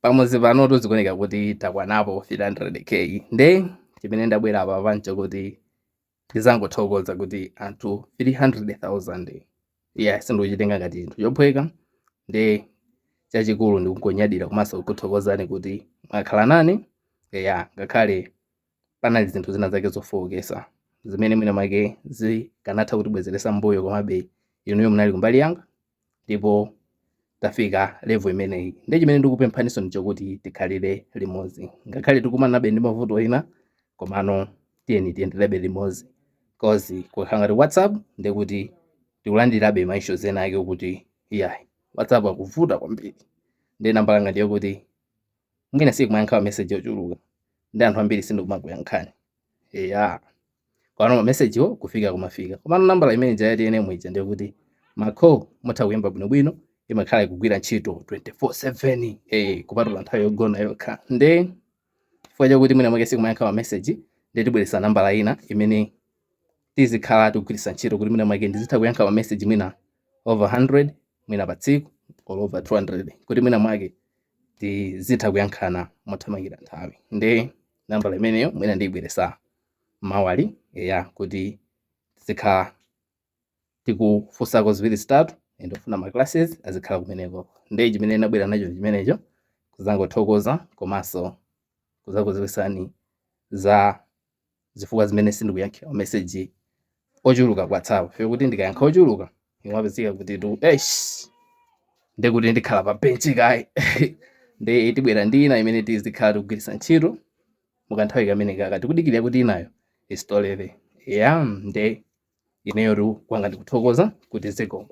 pamudzi panotu zikuoneka kuti takwanapo 300k nde chimene ndabwera apa pano n'choti ndizangothokoza kuti anthu 300,000 ya sindikuchitenga ngati chinthu chophweka nde chachikulu ndikungonyadira komanso kukuthokozani kuti mwakhala nane ya ngakhale panali zinthu zina zake zofowokesa zimene mwina mwake zikanatha kutibwezeretsa mbuyo, komabe inuyo munali kumbali yanga ndipo tafika level imeneyi. Ndiye chimene ndikupemphaninso ndichokuti tikhalire limodzi, ngakhale tikumanabe ndi mavuto ena, komano tiyeni tiyenderebe limodzi cause kukhala ngati WhatsApp ndiye kuti tikulandirabe ma issues ena ake okuti iyayi WhatsApp akuvuta kwambiri, ndiye nambala ngati yokuti mwina sindikumayankha mameseji ochuluka ndi anthu ambiri sindikumakuyankhani eya komano mamesejiwo kufika akumafika komano nambala imene ja ya TNM ija ndiye kuti ma call mutha kuyimba bwinobwino imakhala ikugwira ntchito 24/7 eh kupatula nthawi yogona yokha nde chifukwa chakuti mwina mwake sindikumayankha mameseji ndiye tibweretsa nambala ina imene tizikhala tikugwiritsa ntchito kuti mwina mwake ndizitha kuyankha mameseji mwina over 100 mwina pa tsiku or over 200 kuti mwina mwake tizitha kuyankhana mothamangira nthawi nde nambala imeneyo mwina ndiyibweresa mawali eya kuti tizikhala tikufunsako ziwiri zitatu ndi ofuna ma classes azikhala kumeneko nde chimene nabwera nacho ndi chimenecho kuzangothokoza komanso kuzakuziwisani za zifukwa zimene sindikuyankhira mameseji ochuluka ku whatsapp chifukwa choti ndikayankha ochuluka imapezeka kuti tu esh nde kuti ndikhala pa benchi kaye nde tibwera ndi ina imene tizikhala tikugwiritsa ntchito mukanthawi kameneka tikudikirira kuti inayo i-restore ya nde ineyotu kwanga ndikuthokoza kuti zikomo